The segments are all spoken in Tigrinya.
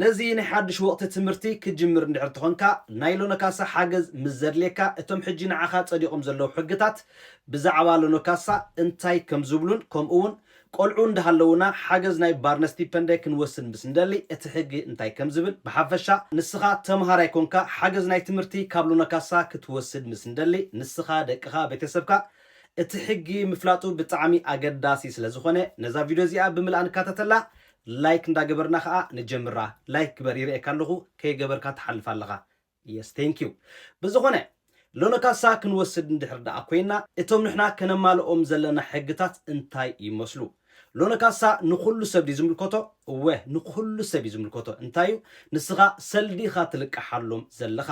ነዚ ናይ ሓድሽ ወቕቲ ትምህርቲ ክትጅምር እንድሕር ተኾንካ ናይ ሎኖካሳ ሓገዝ ምስ ዘድልየካ እቶም ሕጂ ንዓኻ ጸዲቖም ዘለዉ ሕግታት ብዛዕባ ሎኖካሳ እንታይ ከም ዝብሉን ከምኡውን ቆልዑ እንዳሃለዉና ሓገዝ ናይ ባርነስቲፐንደ ክንወስድ ምስ እንደሊ እቲ ሕጊ እንታይ ከም ዝብል ብሓፈሻ ንስኻ ተመሃራይ ኮንካ ሓገዝ ናይ ትምህርቲ ካብ ሎኖካሳ ክትወስድ ምስ እንደሊ ንስኻ ደቅኻ ቤተሰብካ እቲ ሕጊ ምፍላጡ ብጣዕሚ ኣገዳሲ ስለ ዝኾነ ነዛ ቪድዮ እዚኣ ብምልኣ ንካታተላ ላይክ እንዳ ገበርና ከኣ ንጀምራ ላይክ ግበር ይርእየካ ኣለኩ ከይ ገበርካ ትሓልፍ ኣለካ የስ ቴንኪው ብዝኮነ ሎኖካሳ ክንወስድ እንድሕር ደኣ ኮይና እቶም ንሕና ከነማልኦም ዘለና ሕግታት እንታይ ይመስሉ ሎኖካሳ ንኩሉ ሰብ ድዩ ዝምልከቶ እወ ንኩሉ ሰብ እዩ ዝምልከቶ እንታይ እዩ ንስካ ሰልዲ ኢካ ትልቅሓሎም ዘለካ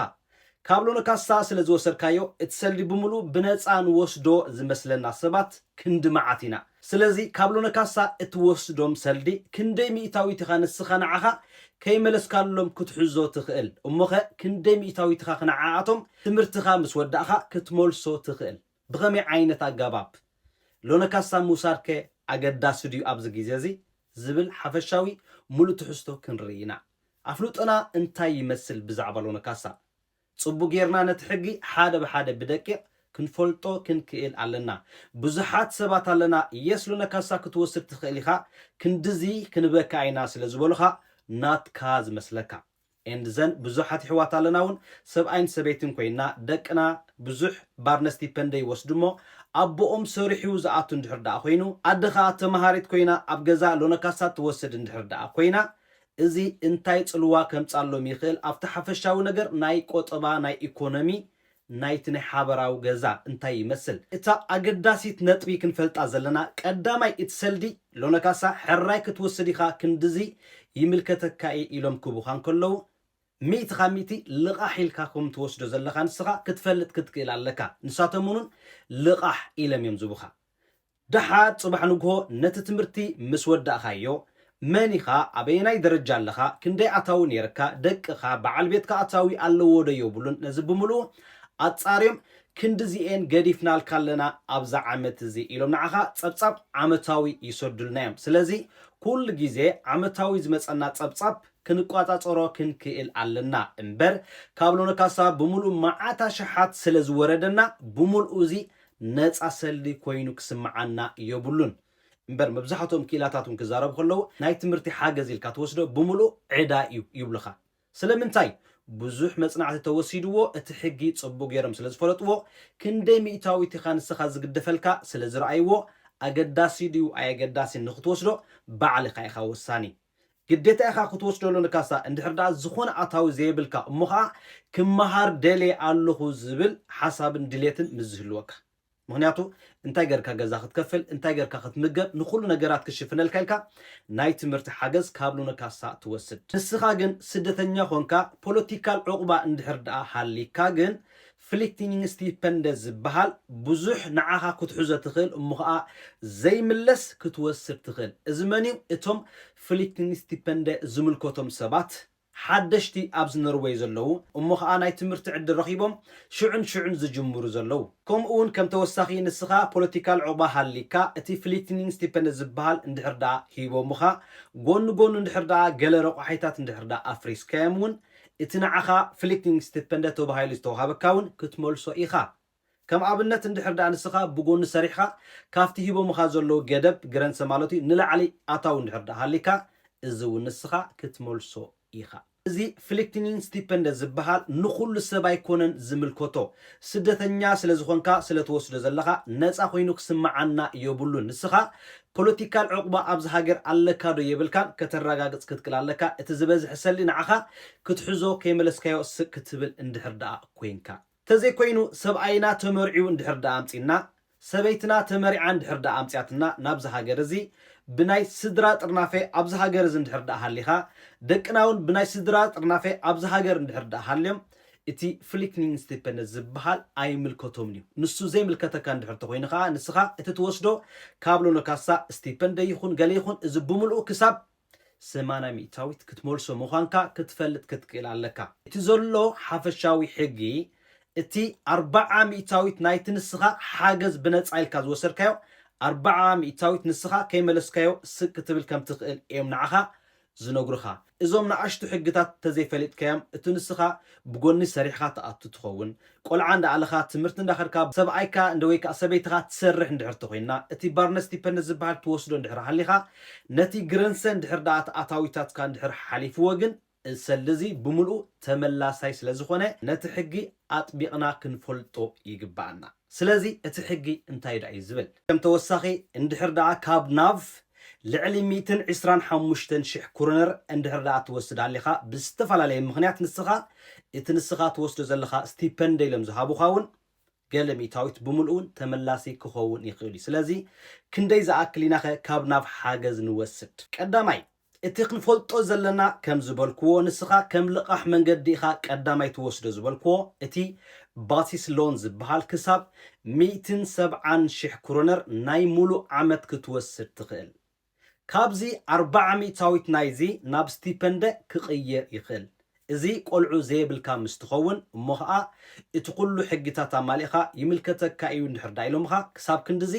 ካብ ሎለ ካሳ ስለ ዝወሰድካዮ እቲ ሰልዲ ብምሉኡ ብነጻ ንወስዶ ዝመስለና ሰባት ክንዲ መዓት ኢና ስለዚ ካብ ሎነ ካሳ እትወስዶም ሰልዲ ክንደይ ሚእታዊት ኢኻ ንስኻ ንዓኻ ከይመለስካሎም ክትሕዞ ትኽእል እሞኸ ክንደይ ሚእታዊት ኢኻ ንዓኣቶም ትምህርትኻ ምስ ወዳእኻ ክትመልሶ ትኽእል ብኸመይ ዓይነት ኣጋባብ ሎነ ካሳ ምውሳድከ ኣገዳሲ ድዩ ኣብዚ ግዜ እዚ ዝብል ሓፈሻዊ ምሉእ ትሕዝቶ ክንርኢ ኢና ኣፍልጦና እንታይ ይመስል ብዛዕባ ሎነ ካሳ? ጽቡቅ ጌርና ነቲ ሕጊ ሓደ ብሓደ ብደቂቅ ክንፈልጦ ክንክእል ኣለና። ብዙሓት ሰባት ኣለና የስ ሎነ ካሳ ክትወስድ ትክእል ኢካ ክንድዚ ክንበካ ኢና ስለ ዝበሉካ ናትካ ዝመስለካ and ዘን ብዙሓት ይሕዋት ኣለና ውን ሰብኣይን ሰበይትን ኮይና ደቅና ብዙሕ ባርነስቲፐንደ ይወስዱ እሞ ኣቦኦም ሰሪሑ ዝኣቱ እንድሕር ደኣ ኮይኑ ኣደ ከኣ ተማሃሪት ኮይና ኣብ ገዛ ሎነ ካሳ ትወስድ እንድሕር ደኣ ኮይና እዚ እንታይ ጽልዋ ከምጻሎም ይኽእል ኣብቲ ሓፈሻዊ ነገር ናይ ቆጠባ ናይ ኢኮኖሚ ናይቲ ናይ ሓበራዊ ገዛ እንታይ ይመስል። እታ ኣገዳሲት ነጥቢ ክንፈልጣ ዘለና ቀዳማይ እቲ ሰልዲ ሎነካሳ ሕራይ ክትወስድ ኢኻ ክንድዚ ይምልከተካ እዪ ኢሎም ክቡኻ እንከለዉ ሚእቲ ካብ ሚእቲ ልቓሕ ኢልካ ከም ትወስዶ ዘለኻ ንስኻ ክትፈልጥ ክትክእል ኣለካ ንሳቶምውን ልቓሕ ኢለም እዮም ዝቡኻ ደሓር ጽባሕ ንግሆ ነቲ ትምህርቲ ምስ ወዳእካዮ፣ መን ኢኻ፣ ኣበየናይ ደረጃ ኣለኻ፣ ክንደይ ኣታዊ ነይርካ፣ ደቅኻ፣ በዓል ቤትካ ኣታዊ ኣለዎ ዶ የብሉን፣ ነዚ ብምልኡ ኣጻርዮም፣ ክንድዚ'የን ገዲፍናልካ ኣለና ኣብዛ ዓመት እዚ ኢሎም ንዓኻ ጸብጻብ ዓመታዊ ይሰዱልና'ዮም። ስለዚ ኩሉ ግዜ ዓመታዊ ዝመጸና ጸብጻብ ክንቋጻጸሮ ክንክእል ኣለና። እምበር ካብ ሎነካሳ ብምልኡ መዓት ኣሽሓት ስለ ዝወረደና ብምልኡ እዚ ነጻ ሰልዲ ኮይኑ ክስምዓና የብሉን። እምበር መብዛሕትኦም ክኢላታት እውን ክዛረቡ ከለዉ ናይ ትምህርቲ ሓገዝ ኢልካ ትወስዶ ብምሉእ ዕዳ እዩ ይብሉኻ። ስለምንታይ? ብዙሕ መጽናዕቲ ተወሲድዎ እቲ ሕጊ ጽቡቕ ገይሮም ስለ ዝፈለጥዎ፣ ክንደይ ሚእታዊት ኢኻ ንስኻ ዝግደፈልካ ስለ ዝረኣይዎ ኣገዳሲ ድዩ ኣየገዳሲን ንኽትወስዶ ባዕልኻ ኢኻ ወሳኒ። ግዴታ ኢኻ ክትወስዶ ለካሳ እንድሕር ደኣ ዝኾነ ኣታዊ ዘየብልካ እሞ ኸኣ ክመሃር ደልየ ኣለኹ ዝብል ሓሳብን ድሌትን ምስ ዝህልወካ ምኽንያቱ እንታይ ጌርካ ገዛ ክትከፍል እንታይ ጌርካ ክትምገብ ንኹሉ ነገራት ክሽፍነልካ ኢልካ ናይ ትምህርቲ ሓገዝ ካብ ሎነካሳ ትወስድ ንስኻ ግን ስደተኛ ኾንካ ፖለቲካል ዑቕባ እንድሕር ደኣ ሃሊካ ግን ፍሊክቲንግስቲፐንደ ዝበሃል ብዙሕ ንዓኻ ክትሕዞ ትኽእል እሞ ኸኣ ዘይምለስ ክትወስድ ትኽእል። እዚ መንዩ እቶም ፍሊክቲንግስቲፐንደ ዝምልከቶም ሰባት ሓደሽቲ ኣብዚ ኖርወይ ዘለዉ እሞ ኸኣ ናይ ትምህርቲ ዕድል ረኺቦም ሽዑን ሽዑን ዝጅምሩ ዘለዉ። ከምኡውን ከም ተወሳኺ ንስኻ ፖለቲካል ዑቕባ ሃልይካ እቲ ፍሊክቲንግስቲፐንደ ዝበሃል እንድሕር ደኣ ሂቦምኻ ጎኒ ጎኑ እንድሕር ደኣ ገለ ረቋሒታት እንድሕር ደኣ ኣፍሪስካዮም እውን እቲ ንዓኻ ፍሊክቲንግስቲፐንደ ተባሂሉ ዝተዋሃበካ እውን ክትመልሶ ኢኻ። ከም ኣብነት እንድሕር ደኣ ንስኻ ብጎኒ ሰሪሕኻ ካብቲ ሂቦምኻ ዘለዉ ገደብ፣ ግረንሰ ማለት እዩ፣ ንላዕሊ ኣታዊ እንድሕር ደኣ ሃልይካ እዚ እውን ንስኻ ክትመልሶ ኢኻ። እዚ ፍሊክቲንግስቲፐንደ ዝበሃል ንኹሉ ሰብ ኣይኮነን ዝምልከቶ። ስደተኛ ስለ ዝኾንካ ስለ ትወስዶ ዘለኻ ነጻ ኮይኑ ክስመዓና የብሉን። ንስኻ ፖለቲካል ዑቅባ ኣብዚ ሃገር ኣለካ ዶ የብልካን ከተራጋግጽ ክትክል ኣለካ እቲ ዝበዝሐ ሰልዲ ንዓካ ክትሕዞ ከይመለስካዮ ስቅ ክትብል እንድሕር ደኣ ኮይንካ ተዘይ ኮይኑ ሰብኣይና ተመርዕዩ እንድሕር ደኣ ኣምጺና ሰበይትና ተመሪዓ እንድሕር ደኣ ኣምጺኣትና ናብዚ ሃገር እዚ ብናይ ስድራ ጥርናፈ ኣብዚ ሃገር እዚ እንድሕር ደኣ ሃሊካ ደቅና ውን ብናይ ስድራ ጥርናፈ ኣብዚ ሃገር እንድሕር ደኣ ሃልዮም እቲ ፍሊክኒንግስቲፐነት ዝብሃል ኣይምልከቶምን እዩ። ንሱ ዘይምልከተካ እንድሕር ተኾይኑ ከኣ ንስኻ እቲ ትወስዶ ካብ ሎነ ካሳ ስቲፐንደ ይኹን ገለ ይኹን እዚ ብምልኡ ክሳብ ሰማንያ ሚእታዊት ክትመልሶ ምዃንካ ክትፈልጥ ክትክእል ኣለካ። እቲ ዘሎ ሓፈሻዊ ሕጊ እቲ ኣርብዓ ሚእታዊት ናይቲ ንስኻ ሓገዝ ብነጻ ኢልካ ዝወሰድካዮ ኣርብዓ ሚእታዊት ንስኻ ከይመለስካዮ ስቅ ክትብል ከም ትኽእል እዮም ንዓኻ ዝነግሩኻ እዞም ንኣሽቱ ሕግታት ተዘይፈሊጥካዮም እቲ ንስኻ ብጎኒ ሰሪሕኻ ትኣቱ ትኸውን ቆልዓ እንዳኣለኻ ትምህርቲ እንዳኸድካ ሰብኣይካ እንደ ወይ ከኣ ሰበይትኻ ትሰርሕ እንድሕር ተኾይና እቲ ባርነስ ዲፐንደስ ዝብሃል ትወስዶ እንድሕር ሃሊኻ ነቲ ግረንሰ እንድሕር ደኣ እቲ ኣታዊታትካ እንድሕር ሓሊፍዎ ግን እሰሊ እዚ ብምልኡ ተመላሳይ ስለዝኾነ ነቲ ሕጊ ኣጥቢቕና ክንፈልጦ ይግበኣና። ስለዚ እቲ ሕጊ እንታይ ድኣ እዩ ዝብል? ከም ተወሳኺ እንድሕር ድኣ ካብ ናብ ልዕሊ ሚእትን ዕስራን ሓሙሽተን ሽሕ ኩርነር እንድሕር ድኣ ትወስድ ኣሊኻ ብዝተፈላለየ ምኽንያት ንስኻ እቲ ንስኻ ትወስዶ ዘለኻ ስቲፐንደ ኢሎም ዝሃቡኻ ውን ገለ ሚእታዊት ብምልኡ ውን ተመላሲ ክኸውን ይኽእል እዩ። ስለዚ ክንደይ ዝኣክል ኢናኸ ካብ ናብ ሓገዝ ንወስድ? ቀዳማይ፣ እቲ ክንፈልጦ ዘለና ከም ዝበልክዎ ንስኻ ከም ልቓሕ መንገዲ ኢኻ ቀዳማይ ትወስዶ ዝበልክዎ እቲ ባሲስ ሎን ዝበሃል ክሳብ ሚእትን ሰብዓን ሽሕ ክሮነር ናይ ሙሉእ ዓመት ክትወስድ ትኽእል። ካብዚ ኣርብዓ ሚእታዊት ናይዚ ናብ ስቲፐንደ ክቕየር ይኽእል። እዚ ቆልዑ ዘየብልካ ምስ ትኸውን እሞ ኸኣ እቲ ኩሉ ሕጊታት ኣማሊእኻ ይምልከተካ ኢዩ እንድሕር ደኣ ኢሎምኻ ክሳብ ክንድዚ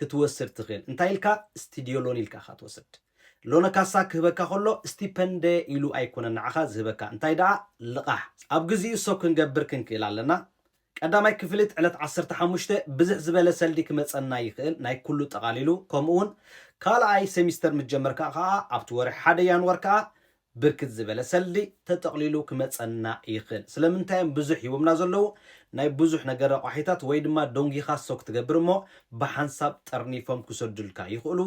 ክትወስድ ትኽእል እንታይ ኢልካ ስትድዮ ሎን ኢልካ ኢኻ ትወስድ። ሎነ ካሳ ክህበካ ከሎ ስቲፐንደ ኢሉ ኣይኮነን ንዓኻ ዝህበካ እንታይ ደኣ ልቓሕ ኣብ ግዚኡ ሰብ ክንገብር ክንክእል ኣለና ቀዳማይ ክፍሊት ዕለት ዓሰርተ ሓሙሽተ ብዝሕ ዝበለ ሰልዲ ክመጸና ይኽእል ናይ ኩሉ ጠቓሊሉ ከምኡ ውን ካልኣይ ሰሚስተር ምስ ጀመርካ ከኣ ኣብቲ ወርሒ ሓደ ያንዋር ከኣ ብርክት ዝበለ ሰልዲ ተጠቕሊሉ ክመጸና ይኽእል። ስለምንታይ እዮም ብዙሕ ሂቦምና ዘለዉ? ናይ ብዙሕ ነገር ረቋሒታት ወይ ድማ ዶንጊኻ ሶክ ትገብር እሞ ብሓንሳብ ጠርኒፎም ክሰዱልካ ይኽእሉ።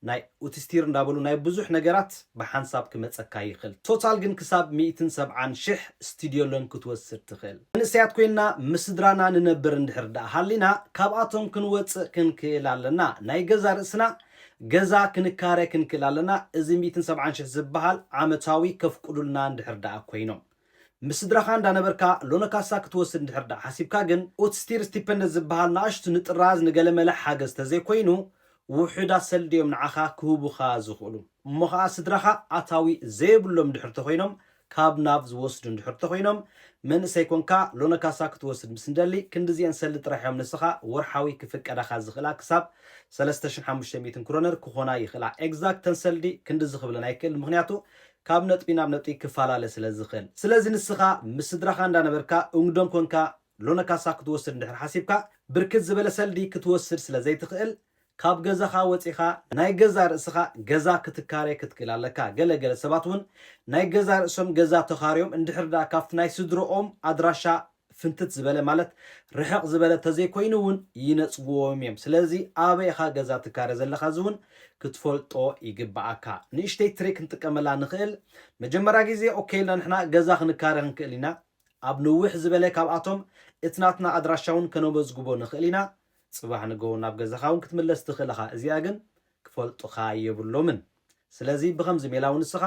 ናይ ኡትስቲር እንዳበሉ ናይ ብዙሕ ነገራት ብሓንሳብ ክመጸካ ይኽእል። ቶታል ግን ክሳብ ሚእትን ሰብዓን ሽሕ ስቲድዮሎን ክትወስድ ትኽእል። መንእሰያት ኮይንና ምስ ስድራና ንነብር እንድሕር ድኣ ሃሊና ካብኣቶም ክንወጽእ ክንክእል ኣለና። ናይ ገዛ ርእስና ገዛ ክንካረ ክንክል ኣለና እዚ ሚእትን ሰብዓን ሽሕ ዝብሃል ዓመታዊ ከፍቁዱልና እንድሕር ድኣ ኮይኖም። ምስ ስድራኻ እንዳነበርካ ሎኖካሳ ክትወስድ እንድሕር ድኣ ሓሲብካ ግን ኡትስቲር ስቲፐንደት ዝብሃል ንኣሽቱ ንጥራዝ ንገለመለ ሓገዝ ተዘይኮይኑ ውሑዳት ሰልዲ እዮም ንዓኻ ክህቡኻ ዝኽእሉ እሞ ኸኣ ስድራኻ ኣታዊ ዘየብሎም እንድሕር ተኾይኖም ካብ ናብ ዝወስዱ እንድሕር ተኾይኖም መንእሰይ ኮንካ ሎነ ካሳ ክትወስድ ምስ እንደሊ ክንድዚኤን ሰልዲ ጥራሕ እዮም ንስኻ ወርሓዊ ክፍቀዳኻ ዝኽእላ ክሳብ ሰለስተ ሽሕን ሓሙሽተ ሚእትን ክሮነር ክኾና ይኽእላ ኤግዛክት ተን ሰልዲ ክንድዚ ክብለን ኣይክእልን ምኽንያቱ ካብ ነጥቢ ናብ ነጥቢ ክፋላለ ስለ ዝኽእል ስለዚ ንስኻ ምስ ስድራኻ እንዳነበርካ ኡንግዶም ኮንካ ሎነ ካሳ ክትወስድ እንድሕር ሓሲብካ ብርክት ዝበለ ሰልዲ ክትወስድ ስለ ዘይትኽእል ካብ ገዛኻ ወጺኻ ናይ ገዛእ ርእስኻ ገዛ ክትካረ ክትክእል ኣለካ። ገለ ገለ ሰባት እውን ናይ ገዛእ ርእሶም ገዛ ተኻርዮም እንድሕር ድኣ ካብቲ ናይ ስድርኦም ኣድራሻ ፍንትት ዝበለ ማለት ርሕቕ ዝበለ ተዘይኮይኑ እውን ይነጽግዎም እዮም። ስለዚ ኣበይ ኢኻ ገዛ ትካረ ዘለኻ እዚ እውን ክትፈልጦ ይግብኣካ። ንእሽተይ ትሪክ ክንጥቀመላ ንኽእል። መጀመርያ ግዜ ኦኬ ኢልና ንሕና ገዛ ክንካረ ክንክእል ኢና። ኣብ ንውሕ ዝበለ ካብኣቶም እቲ ናትና ኣድራሻውን ከነመዝግቦ ንኽእል ኢና፣ ጽባሕ ንገሆ ናብ ገዛኻውን ክትምለስ ትኽእል እኻ እዚኣ ግን ክፈልጡኻ የብሎምን ስለዚ ብኸምዚ ሜላውን ንስኻ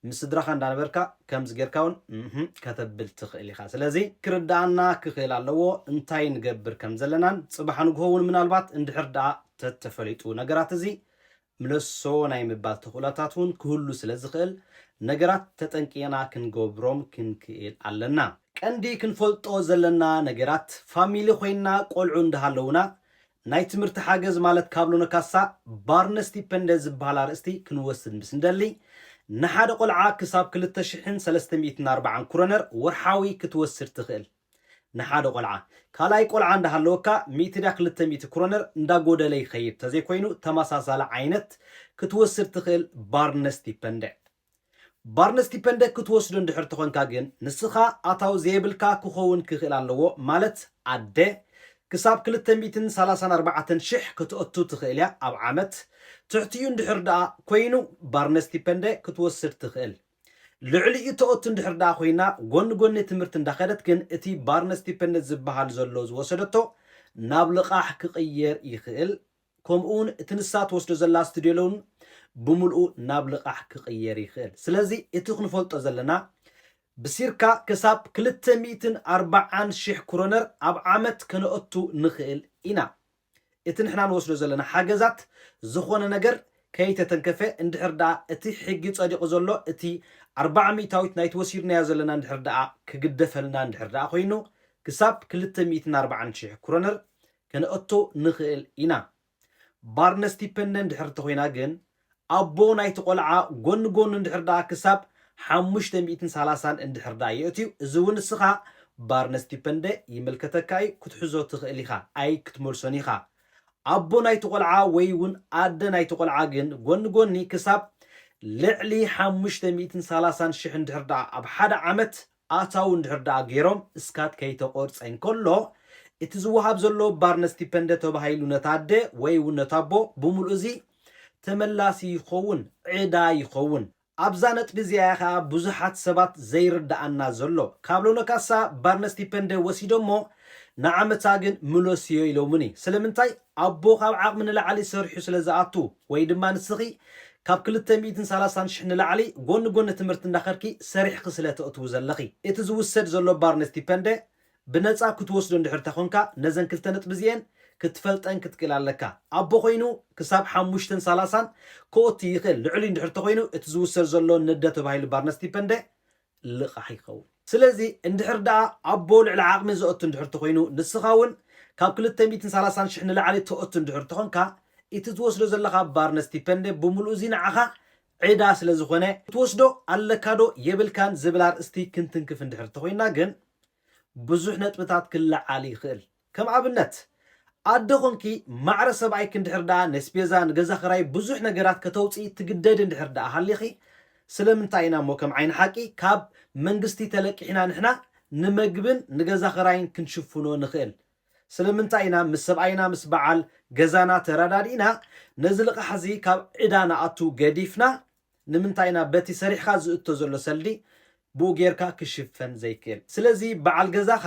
ምስ ስድራኻ እንዳነበርካ ከምዚ ጌርካውን እህ ከተብል ትኽእል ኢኻ ስለዚ ክርድኣና ክኽእል ኣለዎ እንታይ ንገብር ከምዘለናን ጽባሕ ንግሆውን ምናልባት እንድሕር ድኣ ተተፈሊጡ ነገራት እዚ ምለሶ ናይ ምባል ተኽእሎታት እውን ክህሉ ስለ ዝኽእል፣ ነገራት ተጠንቂቕና ክንገብሮም ክንክእል ኣለና። ቀንዲ ክንፈልጦ ዘለና ነገራት፣ ፋሚሊ ኮይንና ቆልዑ እንዳሃለዉና፣ ናይ ትምህርቲ ሓገዝ ማለት ካብ ሎኖካሳ ባርነስቲፐንደ ዝበሃል ኣርእስቲ ክንወስድ ምስ እንደሊ፣ ንሓደ ቆልዓ ክሳብ ክልተ ሽሕን ሰለስተ ሚእትን ኣርባዓን ኩሮነር ወርሓዊ ክትወስድ ትኽእል። ንሓደ ቆልዓ። ካልኣይ ቆልዓ እንዳሃለወካ ሚእቲ ድያ ክልተ ሚእቲ ክሮነር እንዳጎደለ ይኸይድ ተዘይኮይኑ ተመሳሳሊ ዓይነት ክትወስድ ትኽእል ባርነስቲፐንደ። ባርነስቲፐንደ ክትወስዶ እንድሕር ተኾንካ ግን ንስኻ ኣታዊ ዘየብልካ ክኸውን ክኽእል ኣለዎ ማለት ኣደ ክሳብ ክልተ ሚእትን ሰላሳን ኣርባዕተን ሽሕ ከተእቱ ትኽእል እያ ኣብ ዓመት ትሕቲኡ እንድሕር ድኣ ኮይኑ ባርነስቲፐንደ ክትወስድ ትኽእል ልዕሊ እቶኦቱ እንድሕር ደኣ ኮይና ጎኒ ጎኒ ትምህርቲ እንዳኸደት ግን እቲ ባርነ ስቲፐንደት ዝበሃል ዘሎ ዝወሰደቶ ናብ ልቓሕ ክቕየር ይኽእል ከምኡ ውን እቲ ንሳ ትወስዶ ዘላ ስቱድዮ ሎውን ብምልኡ ናብ ልቓሕ ክቕየር ይኽእል ስለዚ እቲ ክንፈልጦ ዘለና ብሲርካ ክሳብ ክልተ ሚእትን ኣርባዓን ሽሕ ክሮነር ኣብ ዓመት ከነእቱ ንኽእል ኢና። እቲ ንሕና ንወስዶ ዘለና ሓገዛት ዝኾነ ነገር ከይተተንከፈ እንድሕር ደኣ እቲ ሕጊ ጸዲቑ ዘሎ እቲ ኣርብዓ ሚእታዊት ናይቲ ወሲድናዮ ዘለና እንድሕር ደኣ ክግደፈልና እንድሕር ደኣ ኮይኑ ክሳብ ክልተ ሚእትን ኣርብዓን ሽሕ ክሮነር ከነእቱ ንኽእል ኢና። ባርነስቲፐንደ እንድሕር እንተኾይና ግን ኣቦ ናይቲ ቆልዓ ጎኒ ጎኑ እንድሕር ደኣ ክሳብ ሓሙሽተ ሚእትን ሰላሳን እንድሕር ደኣ የእትዩ እዚ እውን እስኻ ባርነስቲፐንደ ይምልከተካ እዩ ክትሕዞ ትኽእል ኢኻ ኣይ ክትመልሶን ኢኻ ኣቦ ናይቲ ቆልዓ ወይ እውን ኣደ ናይቲ ቆልዓ ግን ጎኒ ጎኒ ክሳብ ልዕሊ ሓሙሽተ ሚእትን ሰላሳን ሽሕ እንድሕር ደኣ ኣብ ሓደ ዓመት ኣታዊ እንድሕር ደኣ ገይሮም ስካት ከይተቆርጸ እንከሎ፣ እቲ ዝወሃብ ዘሎ ባርነ ስቲፐንደ ተባሂሉ ነታ ኣደ ወይ እውን ነታ ኣቦ ብምሉኡ እዚ ተመላሲ ይኸውን፣ ዕዳ ይኸውን። ኣብዛ ነጥቢ እዚኣ እያ ከኣ ብዙሓት ሰባት ዘይርደኣና ዘሎ። ካብ ሎነ ካሳ ባርነ ስቲፐንደ ወሲዶሞ ንዓመታ ግን ምለስዮ ኢሎሙኒ። ስለምንታይ? ኣቦ ካብ ዓቕሚ ንላዕሊ ሰሪሑ ስለ ዝኣቱ ወይ ድማ ንስኺ ካብ ክልተ ሚእትን ሰላሳን ሽሕ ንላዕሊ ጎኒ ጎኒ ትምህርቲ እንዳኸድኪ ሰሪሕኺ ስለ ተእትዊ ዘለኺ እቲ ዝውሰድ ዘሎ ባርነት ስቲፐንደ ብነጻ ክትወስዶ እንድሕር ተኾንካ ነዘን ክልተ ነጥቢ እዚኤን ክትፈልጠን ክትክእል ኣለካ። ኣቦ ኮይኑ ክሳብ ሓሙሽተን ሰላሳን ክኦቲ ይኽእል ልዕሊኡ እንድሕር ተኾይኑ እቲ ዝውሰድ ዘሎ ንደ ተባሂሉ ባርነት ስቲፐንደ ልቓሕ ይኸውን። ስለዚ እንድሕር ደኣ ኣቦ ልዕሊ ዓቕሚ ዘእቱ እንድሕር ተኾይኑ፣ ንስኻ እውን ካብ ክልተ ሚእትን ሰላሳን ሽሕ ንላዕሊ ተእቱ እንድሕር ተኾንካ፣ እቲ ትወስዶ ዘለኻ ባርነስቲፐንደ ብምሉኡ እዚ ንዓኻ ዕዳ ስለዝኾነ፣ ትወስዶ ኣለካዶ የብልካን ዝብል ኣርእስቲ ክንትንክፍ እንድሕር ተኾይንና ግን ብዙሕ ነጥብታት ክለዓል ይኽእል። ከም ኣብነት ኣደ ኮንኪ ማዕረ ሰብኣይኪ እንድሕር ደኣ ነስፔዛ ንገዛ ክራይ ብዙሕ ነገራት ከተውጽኢ ትግደዲ እንድሕር ደኣ ሃሊኺ ስለምንታይ ኢና እሞ ከም ዓይኒ ሓቂ ካብ መንግስቲ ተለቂሕና ንሕና ንመግብን ንገዛ ክራይን ክንሽፍኖ ንኽእል ስለምንታይ ኢና ምስ ሰብኣይና ምስ በዓል ገዛና ተረዳዲእና ነዚ ልቓሕ እዚ ካብ ዕዳ ንኣቱ ገዲፍና ንምንታይ ኢና በቲ ሰሪሕኻ ዝእቶ ዘሎ ሰልዲ ብኡ ጌርካ ክሽፈን ዘይክእል ስለዚ በዓል ገዛኻ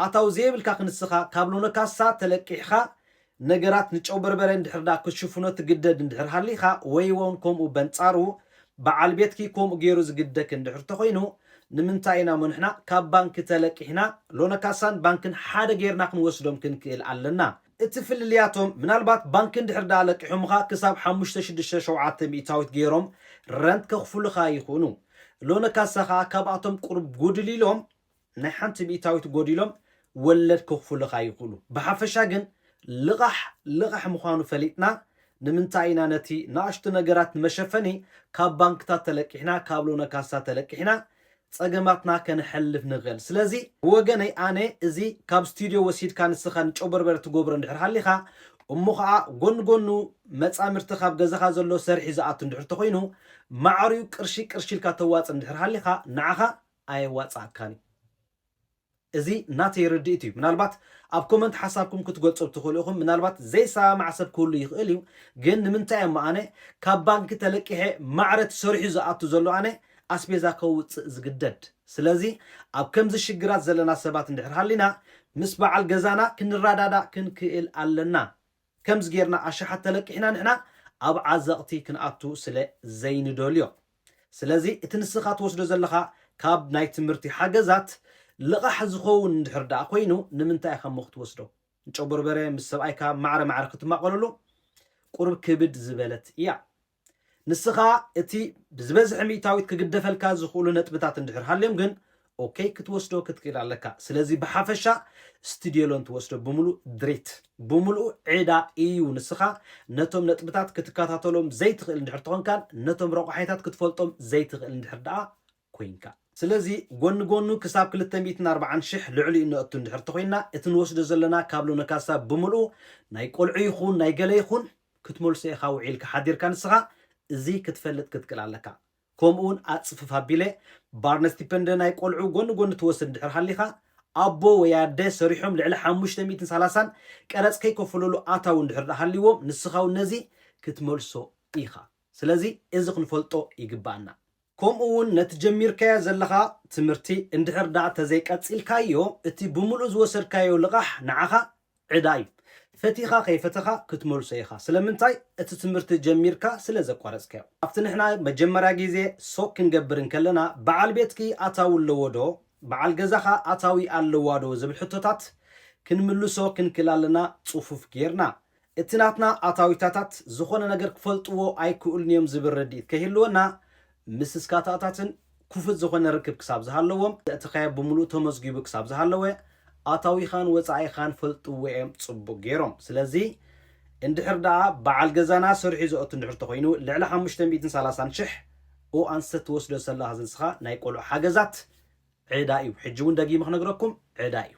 ኣታዊ ዘየብልካ ክንስኻ ካብ ሎኖ ካሳ ተለቂሕኻ ነገራት ንጨውበርበረ እንድሕር ደኣ ክትሽፍኖ ትግደድ እንድሕር ሃሊኻ ወይወን ከምኡ በንጻሩ በዓል ቤትኪ ከምኡ ጌሩ ዝግደክ እንድሕር ተኾይኑ ንምንታይ ኢና እሞ ንሕና ካብ ባንኪ ተለቂሕና ሎኖ ካሳን ባንክን ሓደ ጌርና ክንወስዶም ክንክእል ኣለና እቲ ፍልልያቶም ምናልባት ባንኪ እንድሕር ደኣ ለቂሖምኻ ክሳብ ሓሙሽተ ሽዱሽተ ሸውዓተ ሚኢታዊት ገይሮም ረንት ከኽፍሉኻ ይኽእኑ። ሎነ ካሳ ከኣ ካብኣቶም ቁሩብ ጉድል ኢሎም ናይ ሓንቲ ሚኢታዊት ጎዲሎም ወለድ ከኽፍሉኻ ይኽእሉ። ብሓፈሻ ግን ልቓሕ ልቓሕ ምዃኑ ፈሊጥና ንምንታይ ኢና ነቲ ንኣሽቱ ነገራት ንመሸፈኒ ካብ ባንክታት ተለቂሕና ካብ ሎነ ካሳ ተለቂሕና ጸገማትና ከነሕልፍ ንኽእል። ስለዚ ብወገነይ ኣነ እዚ ካብ ስቱድዮ ወሲድካ ንስኻ ንጮበርበር ትጎብሮ እንድሕር ሃሊኻ እሞ ኸኣ ጎኒ ጎኑ መጻምድትኻ ኣብ ገዛኻ ዘሎ ሰርሒ ዝኣቱ እንድሕር ተኾይኑ ማዕርዩ ቅርሺ ቅርሺ ኢልካ ተዋጽእ እንድሕር ሃሊኻ ንዓኻ ኣየዋጽኣካን እዩ። እዚ ናተይ ርድኢት እዩ ምናልባት ኣብ ኮመንት ሓሳብኩም ክትገልጹ ትኽእሉ ኢኹም ምናልባት ዘይሰማማዕ ሰብ ክህሉ ይኽእል እዩ ግን ንምንታይ እሞ ኣነ ካብ ባንኪ ተለቂሐ ማዕረ ትሰሪሑ ዝኣቱ ዘሎ ኣነ ኣስቤዛ ከውጽእ ዝግደድ ስለዚ ኣብ ከምዚ ሽግራት ዘለና ሰባት እንድሕር ሃሊና ምስ በዓል ገዛና ክንረዳዳእ ክንክእል ኣለና ከምዚ ጌርና ኣሽሓት ተለቂሕና ንሕና ኣብ ዓዘቕቲ ክንኣቱ ስለ ዘይንደልዮ። ስለዚ እቲ ንስኻ ትወስዶ ዘለኻ ካብ ናይ ትምህርቲ ሓገዛት ልቓሕ ዝኸውን እንድሕር ደኣ ኮይኑ ንምንታይ ኢኻ እሞ ክትወስዶ? ንጨጎርበረ ምስ ሰብኣይካ ማዕረ ማዕረ ክትማቐለሉ ቁሩብ ክብድ ዝበለት እያ። ንስኻ እቲ ብዝበዝሐ ሚእታዊት ክግደፈልካ ዝኽእሉ ነጥብታት እንድሕር ሃልዮም ግን ኦከይ ክትወስዶ ክትክእል ኣለካ። ስለዚ ብሓፈሻ ስቱድዮሎን ትወስዶ ብምሉእ ድሪት ብምሉኡ ዕዳ ኢዩ። ንስኻ ነቶም ነጥብታት ክትከታተሎም ዘይትኽእል እንድሕር ተኾንካን ነቶም ረቋሒታት ክትፈልጦም ዘይትኽእል እንድሕር ደኣ ኮይንካ። ስለዚ ጎኒ ጎኑ ክሳብ ክልተ ሚእትን ኣርባዓን ሽሕ ልዕሊኡ ነእቱ እንድሕር ተኾይንና እቲ ንወስዶ ዘለና ካብ ሎነ ካሳብ ብምልኡ ናይ ቆልዑ ይኹን ናይ ገለ ይኹን ክትመልሶ ኢኻ ውዒልካ ሓዲርካ ንስኻ እዚ ክትፈልጥ ክትክእል ኣለካ ከምኡ ውን ኣጽፍፍ ኣቢለ ባርነስቲፐንደ ናይ ቆልዑ ጎኒ ጎኒ ትወስድ እንድሕር ሃሊኻ ኣቦ ወይ ኣደ ሰሪሖም ልዕሊ ሓሙሽተ ሚእትን ሳላሳን ቀረጽ ከይከፈለሉ ኣታዊ እንድሕር ድኣ ሃሊዎም ንስኻ ውን ነዚ ክትመልሶ ኢኻ ስለዚ እዚ ክንፈልጦ ይግብኣና። ከምኡ ውን ነቲ ጀሚርካዮ ዘለኻ ትምህርቲ እንድሕር ደኣ ተዘይቀጺልካዮ እቲ ብምሉኡ ዝወሰድካዮ ልቓሕ ንዓኻ ዕዳ ዩ። ፈቲኻ ከይፈተኻ ክትመልሶ ኢኻ። ስለምንታይ? እቲ ትምህርቲ ጀሚርካ ስለ ዘቋረጽካዮ። ኣብቲ ንሕና መጀመርያ ግዜ ሶቅ ክንገብር እንከለና በዓል ቤትኪ ኣታዊ ኣለዎ ዶ? በዓል ገዛኻ ኣታዊ ኣለዋ ዶ? ዝብል ሕቶታት ክንምልሶ ክንክል ኣለና ጽፉፍ ጌርና። እቲ ናትና ኣታዊታታት ዝኾነ ነገር ክፈልጥዎ ኣይክእሉን እዮም ዝብል ርድኢት ከይህልወና፣ ምስ ስካታታትን ኩፉት ዝኾነ ርክብ ክሳብ ዝሃለዎም፣ ዘእተኻዮ ብምሉኡ ተመዝጊቡ ክሳብ ዝሃለወ፣ ኣታዊኻን ወጻኢኻን ፈልጥዎ እዮም ጽቡቕ ገይሮም። ስለዚ እንድሕር ደኣ በዓል ገዛና ሰሪሑ ዘእቱ እንድሕር ተኾይኑ፣ ልዕሊ ሓሙሽተ ሚእትን ሰላሳን ሽሕ ኡ ኣንስተ ትወስዶ ዘለኻ ዝንስኻ ናይ ቆልዑ ሓገዛት ዕዳ እዩ። ሕጂ እውን ደጊመ ክነግረኩም ዕዳ እዩ።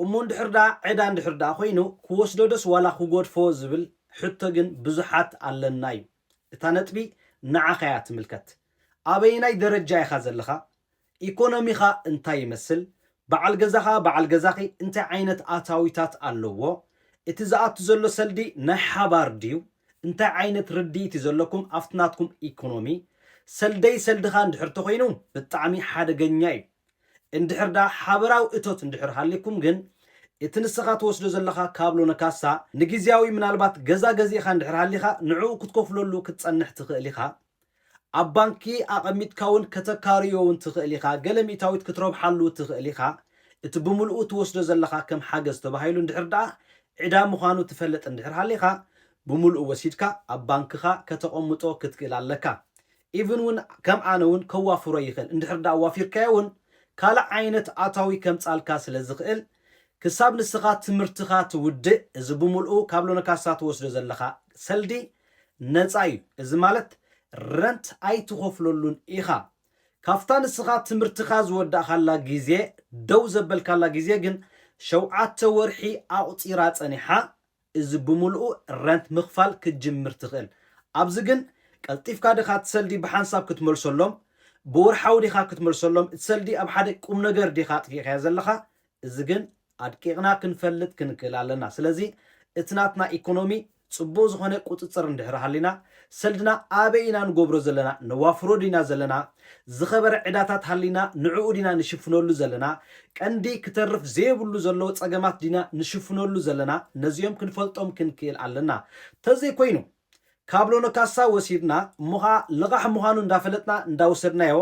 እሞ እንድሕር ድኣ ዕዳ እንድሕር ድኣ ኮይኑ ክወስዶ ዶስ ዋላ ክጎድፎ ዝብል ሕቶ ግን ብዙሓት ኣለና ዩ። እታ ነጥቢ ንዓኻ እያ ትምልከት። ኣበየናይ ደረጃ ኢኻ ዘለኻ? ኢኮኖሚኻ እንታይ ይመስል? በዓል ገዛኻ፣ በዓል ገዛኺ እንታይ ዓይነት ኣታዊታት ኣለዎ? እቲ ዝኣቱ ዘሎ ሰልዲ ናይ ሓባር ድዩ? እንታይ ዓይነት ርድኢት ዩ ዘለኩም ኣብቲ ናትኩም ኢኮኖሚ? ሰልደይ ሰልድኻ እንድሕር ተኾይኑ ብጣዕሚ ሓደገኛ ዩ። እንድሕር ደኣ ሓበራዊ እቶት እንድሕር ሃልይኩም ግን፣ እቲ ንስኻ ትወስዶ ዘለኻ ካብሎ ንካሳ፣ ንግዝያዊ ምናልባት ገዛ ገዚእኻ እንድሕር ሃሊኻ ንዕኡ ክትከፍለሉ ክትጸንሕ ትኽእል ኢኻ። ኣብ ባንኪ ኣቐሚጥካውን ከተካርዮውን ትኽእል ኢኻ፣ ገለ ሚእታዊት ክትረብሓሉ ትኽእል ኢኻ። እቲ ብምልኡ ትወስዶ ዘለኻ ከም ሓገዝ ተባሂሉ እንድሕር ደኣ ዕዳ ምዃኑ ትፈልጥ እንድሕር ሃሊኻ፣ ብምልኡ ወሲድካ ኣብ ባንክኻ ከተቐምጦ ክትክእል ኣለካ። ኢቭን ውን ከም ኣነ ውን ከዋፍሮ ይኽእል እንድሕር ድኣ ኣዋፊርካዮ ውን ካልእ ዓይነት ኣታዊ ከምጻልካ ስለ ዝኽእል ክሳብ ንስኻ ትምህርትኻ ትውድእ እዚ ብምልኡ ካብ ሎነካሳ ትወስዶ ዘለኻ ሰልዲ ነጻ እዩ እዚ ማለት ረንት ኣይትኸፍለሉን ኢኻ ካብታ ንስኻ ትምህርትኻ ዝወዳእካላ ግዜ ደው ዘበልካላ ግዜ ግን ሸውዓተ ወርሒ ኣቁጺራ ጸኒሓ እዚ ብምልኡ ረንት ምኽፋል ክትጅምር ትኽእል። ኣብዚ ግን ቀልጢፍካ ዲኻ እቲ ሰልዲ ብሓንሳብ ክትመልሰሎም፣ ብወርሓዊ ዲኻ ክትመልሰሎም፣ እቲ ሰልዲ ኣብ ሓደ ቁምነገር ዲኻ ኣጥፊእካዮ ዘለኻ፣ እዚ ግን ኣድቂቕና ክንፈልጥ ክንክእል ኣለና። ስለዚ እቲ ናትና ኢኮኖሚ ጽቡቕ ዝኾነ ቁጽጽር እንድሕሪ ሃሊና፣ ሰልድና ኣበይ ኢና ንጎብሮ ዘለና ነዋፍሮ ዲና ዘለና ዝከበረ ዕዳታት ሃሊና ንዑኡ ዲና ንሽፍነሉ ዘለና ቀንዲ ክተርፍ ዘየብሉ ዘሎ ጸገማት ዲና ንሽፍነሉ ዘለና ነዚኦም ክንፈልጦም ክንክእል ኣለና ተዘይ ኮይኑ ካብ ሎኖካሳ ወሲድና እሞ ከኣ ልቃሕ ምኳኑ እንዳፈለጥና እንዳወሰድናዮ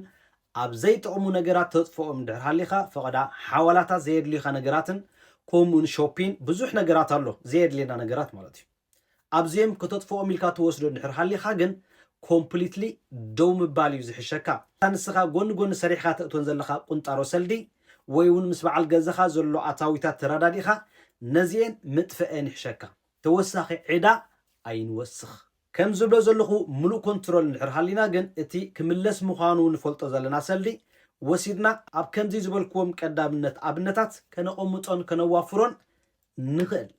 ኣብ ዘይጠቅሙ ነገራት ተጥፍኦም እንድሕር ሃሊካ ፈቀዳ ሓዋላታት ዘየድልዩካ ነገራትን ኮሙኡን ሾፒን ብዙሕ ነገራት ኣሎ ዘየድልየና ነገራት ማለት እዩ። ኣብዚኦም ከተጥፍኦም ኢልካ ትወስዶ እንድሕር ሃሊኻ ግን ኮምፕሊትሊ ደው ምባል እዩ ዝሕሸካ። እታ ንስኻ ጎኒ ጎኒ ሰሪሕኻ ተእትወን ዘለኻ ቁንጣሮ ሰልዲ ወይ ውን ምስ በዓል ገዛኻ ዘሎ ኣታዊታት ተራዳዲእኻ ነዚኤን ምጥፈኤን ይሕሸካ። ተወሳኺ ዕዳ ኣይንወስኽ። ከም ዝብሎ ዘለኹ ምሉእ ኮንትሮል እንድሕር ሃሊና ግን እቲ ክምለስ ምዃኑ ንፈልጦ ዘለና ሰልዲ ወሲድና ኣብ ከምዚ ዝበልክዎም ቀዳምነት ኣብነታት ከነቐምጦን ከነዋፍሮን ንኽእል።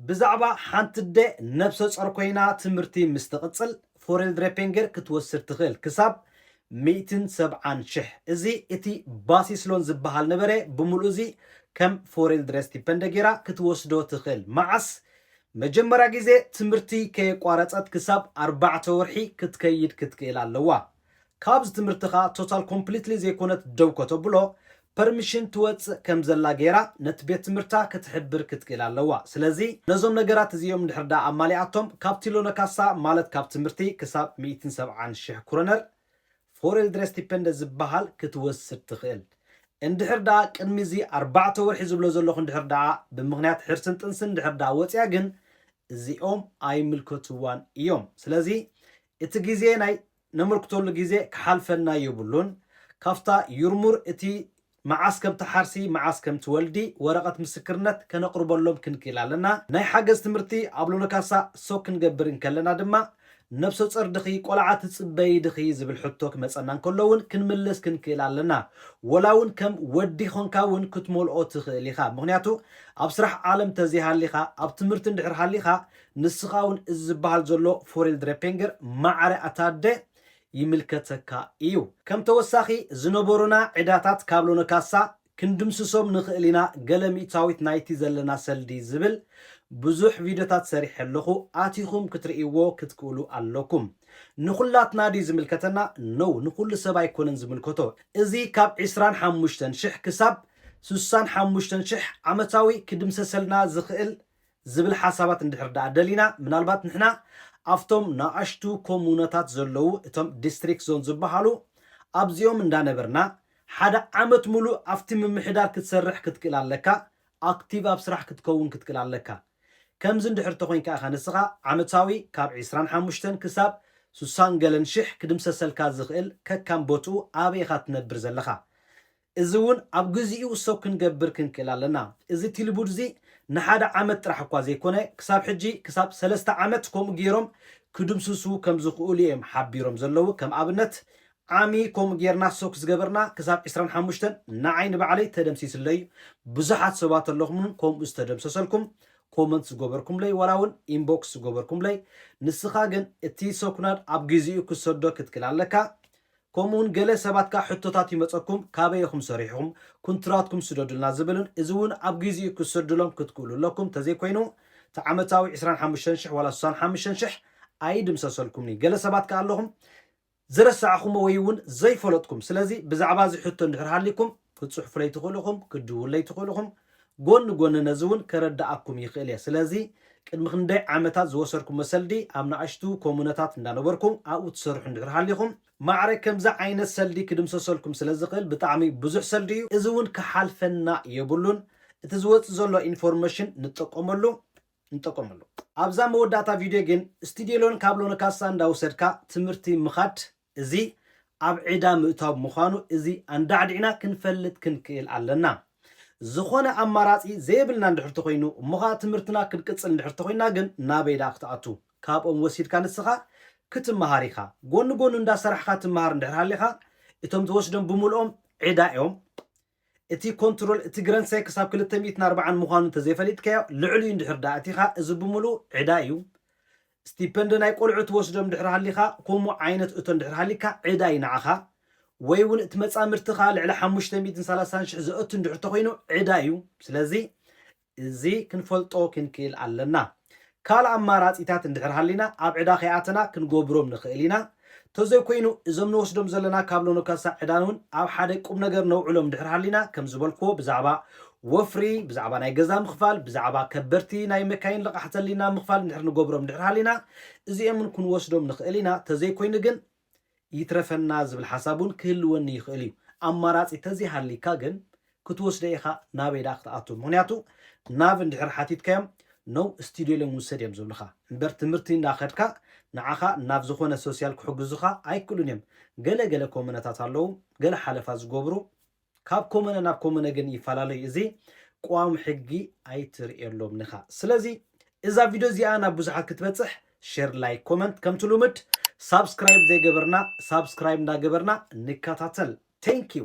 ብዛዕባ ሓንቲ ኣደ ነብሰጾር ኰይና ትምህርቲ ምስ ትቕጽል ፎሬልድረፔንገር ክትወስድ ትኽእል ክሳብ ሚእትን ሰብዓን ሽሕ። እዚ እቲ ባሲስ ሎን ዝበሃል ነበረ፣ ብምሉኡ እዚ ከም ፎሬልድረስቲፐንደ ገይራ ክትወስዶ ትኽእል። መዓስ? መጀመርያ ግዜ ትምህርቲ ከየቋረጸት ክሳብ ኣርባዕተ ወርሒ ክትከይድ ክትክእል ኣለዋ። ካብዚ ትምህርትኻ ቶታል ኮምፕሊትሊ ዘይኮነት ደው ከተብሎ ፐርሚሽን ትወጽእ ከም ዘላ ጌራ ነቲ ቤት ትምህርታ ክትሕብር ክትክእል ኣለዋ ስለዚ ነዞም ነገራት እዚኦም እንድሕር ደኣ ኣማሊኣቶም ካብቲ ሎነካሳ ማለት ካብ ትምህርቲ ክሳብ ሚእትን ሰብዓን ሽሕ ኩረነር ፎሬልድረስቲፐንደ ዝብሃል ክትወስድ ትኽእል እንድሕር ደኣ ቅድሚ እዚ ኣርባዕተ ወርሒ ዝብሎ ዘለኹ እንድሕር ደኣ ብምኽንያት ሕርስን ጥንስን እንድሕር ደኣ ወጽያ ግን እዚኦም ኣይምልከትዋን እዮም ስለዚ እቲ ግዜ ናይ ነመልክተሉ ግዜ ክሓልፈና የብሉን፣ ካብታ ዩርሙር እቲ መዓስ ከም ትሓርሲ መዓስ ከም ትወልዲ ወረቐት ምስክርነት ከነቕርበሎም ክንክእል ኣለና፣ ናይ ሓገዝ ትምህርቲ ኣብ ሎሎካሳ ሰው ክንገብር እንከለና ድማ ነብሰጾር ድኺ ቆልዓ ትጽበዪ ድኺ ዝብል ሕቶ ክመጸና እንከሎ ውን ክንምልስ ክንክእል ኣለና፣ ወላ ውን ከም ወዲ ኮንካ ውን ክትመልኦ ትኽእል ኢኻ፣ ምኽንያቱ ኣብ ስራሕ ዓለም ተዘይሃሊኻ ኣብ ትምህርቲ እንድሕር ሃሊኻ ንስኻ እውን እዚ ዝበሃል ዘሎ ፎሬልድሬፔንገር ማዕረ ኣታደ ይምልከተካ ኢዩ። ከም ተወሳኺ ዝነበሩና ዕዳታት ካብ ሎነ ካሳ ክንድምስሶም ንኽእል ኢና ገለ ሚእታዊት ናይቲ ዘለና ሰልዲ ዝብል ብዙሕ ቪድዮታት ሰሪሐ ኣለኹ ኣቲኹም ክትርእይዎ ክትክእሉ ኣለኩም። ንኹላትና ድዩ ዝምልከተና? No ንኹሉ ሰብ ኣይኮነን ዝምልከቶ። እዚ ካብ ዕስራን ሓሙሽተን ሽሕ ክሳብ ስሳን ሓሙሽተን ሽሕ ዓመታዊ ክድምሰሰልና ዝኽእል ዝብል ሓሳባት እንድሕር ደኣ ደሊና፣ ምናልባት ንሕና ኣብቶም ነኣሽቱ ኮሙነታት ዘለዉ እቶም ዲስትሪክት ዞን ዝበሃሉ ኣብዚኦም እንዳነበርና ሓደ ዓመት ምሉእ ኣብቲ ምምሕዳር ክትሰርሕ ክትክእል ኣለካ፣ ኣክቲቭ ኣብ ስራሕ ክትከውን ክትክእል ኣለካ። ከምዚ እንድሕር ተኮይንካ ኢካ ንስካ ዓመታዊ ካብ ዕስራን ሓሙሽተን ክሳብ ሱሳን ገለን ሽሕ ክድምሰሰልካ ዝክእል ከካም ቦትኡ ኣበይ ኢካ ትነብር ዘለካ እዚ እውን ኣብ ግዚኡ እሶ ክንገብር ክንክእል ኣለና። እዚ ቲልቡድ እዚ ንሓደ ዓመት ጥራሕ እኳ ዘይኮነ ክሳብ ሕጂ ክሳብ ሰለስተ ዓመት ከምኡ ገይሮም ክድምስሱ ከም ዝኽእሉ እየም ሓቢሮም ዘለዉ ከም ኣብነት ዓሚ ከምኡ ገይርና እሶ ክዝገበርና ክሳብ ዕስራን ሓሙሽተን ንዓይ ንባዕለይ ተደምሲስለይ ብዙሓት ሰባት ኣለኹም እውን ከምኡ ዝተደምሰሰልኩም ኮመንት ዝገበርኩምለይ ዋላ እውን ኢንቦክስ ዝገበርኩምለይ ንስኻ ግን እቲ እሶ ኩናድ ኣብ ግዚኡ ክትሰዶ ክትክእል ኣለካ ከምኡ ውን ገለ ሰባት ከኣ ሕቶታት ይመጸኩም ካበይ ኢኹም ሰሪሕኹም ኩንትራትኩም ስደዱልና ዝብልን እዚ ውን ኣብ ጊዚኡ ክትስርድሎም ክትክእሉ ኣለኩም ተዘይ ኮይኑ እቲ ዓመታዊ ዕስራን ሓሙሽተን ሽሕ ዋላ ስሳን ሓምሽተን ሽሕ ኣይድምሰሰልኩምንዩ ገለ ሰባት ከኣ ኣለኹም ዝረሳዕኹሞ ወይ ውን ዘይፈለጥኩም ስለዚ ብዛዕባ እዚ ሕቶ እንድሕር ሃሊኩም ክትጽሕፉለይ ትኽእሉ ኢኹም፣ ክትድውሉለይ ትኽእሉ ኢኹም። ጎኒ ጎኒ ነዚ እውን ከረድኣኩም ይኽእል እየ። ስለዚ ቅድሚ ክንደይ ዓመታት ዝወሰድኩሞ ሰልዲ ኣብ ናእሽቱ ኮሙነታት እንዳነበርኩ ኣብኡ ትሰርሑ እንድሕር ሃሊኹም ማዕረ ከምዚ ዓይነት ሰልዲ ክድምሰሰልኩም ስለ ዝኽእል ብጣዕሚ ብዙሕ ሰልዲ እዩ። እዚ እውን ክሓልፈና የብሉን። እቲ ዝወጽእ ዘሎ ኢንፎርመሽን ንጠቀመሉ ንጠቀመሉ። ኣብዛ መወዳእታ ቪድዮ ግን ስቲዲዮሎን ካብሎን ካሳ እንዳወሰድካ ትምህርቲ ምኻድ እዚ ኣብ ዕዳ ምእታው ምዃኑ እዚ ኣንዳዕዲዕና ክንፈልጥ ክንክእል ኣለና። ዝኾነ ኣማራጺ ዘየብልና እንድሕር ተኾይኑ እሞ ኸኣ ትምህርትና ክንቅጽል እንድሕር ተኾይንና ግን ናበይ ደኣ ክትኣቱ? ካብኦም ወሲድካ ንስኻ ክትመሃር ኢኻ። ጎኒ ጎኑ እንዳሰራሕኻ ትመሃር እንድሕር ሃሊኻ እቶም ትወስዶም ብምልኦም ዕዳ እዮም። እቲ ኮንትሮል እቲ ግረንሰ ክሳብ ክልተ ሚእትን ኣርባዓን ምዃኑ እንተዘይፈሊጥካዮ ልዕሊኡ እንድሕር ደኣ ኣቲኻ እዚ ብምሉኡ ዕዳ እዩ። ስቲፐንደ ናይ ቆልዑ ትወስዶ እንድሕር ሃሊኻ ኮሙ ዓይነት እቶ እንድሕር ሃሊካ ዕዳ እዩ ንዓኻ። ወይ እውን እቲ መጻምድትኻ ልዕሊ ሓሙሽተ ሚእትን ሰላሳን ሽሕ ዘእቱ እንድሕር ተኾይኑ ዕዳ እዩ። ስለዚ እዚ ክንፈልጦ ክንክእል ኣለና። ካልእ ኣማራጺታት እንድሕር ሃሊና ኣብ ዕዳ ከይኣተና ክንጎብሮም ንክእል ኢና። ተዘይኮይኑ እዞም ንወስዶም ዘለና ካብ ሎኖካሳ ዕዳንውን ኣብ ሓደ ቁምነገር ነውዕሎም እንድሕር ሃሊና ከም ዝበልክዎ ብዛዕባ ወፍሪ፣ ብዛዕባ ናይ ገዛ ምኽፋል፣ ብዛዕባ ከበድቲ ናይ መካይን ልቓሕ ዘሊና ምኽፋል እንድሕር ንጎብሮም እንድሕር ሃሊና እዚኦምውን ክንወስዶም ንክእል ኢና። ተዘይኮይኑ ግን ይትረፈና ዝብል ሓሳብ ውን ክህልወኒ ይኽእል እዩ ኣማራጺ ተዘይሃልይካ ግን ክትወስደ ኢኻ ናበይ ደኣ ክትኣቱ ምኽንያቱ ናብ እንድሕር ሓቲትካዮም no studio ኢሎም ውሰድ እዮም ዝብልኻ እምበር ትምህርቲ እንዳ ከድካ ንዓኻ ናብ ዝኾነ social ክሕግዙኻ ኣይክእሉን እዮም ገለ ገለ ኮመነታት ኣለዉ ገለ ሓለፋ ዝገብሩ ካብ ኮሙነ ናብ ኮሙነ ግን ይፈላለ እዩ እዚ ቁዋም ሕጊ ኣይትርእየሎምን ኢኻ ስለዚ እዛ ቪድዮ እዚኣ ናብ ብዙሓት ክትበጽሕ ሼር ላይክ ኮመንት ከምቲ ሉምድ ሳብስክራይብ ዘይገበርና ሳብስክራይብ እንዳገበርና ንከታተል ቴንክ ዩ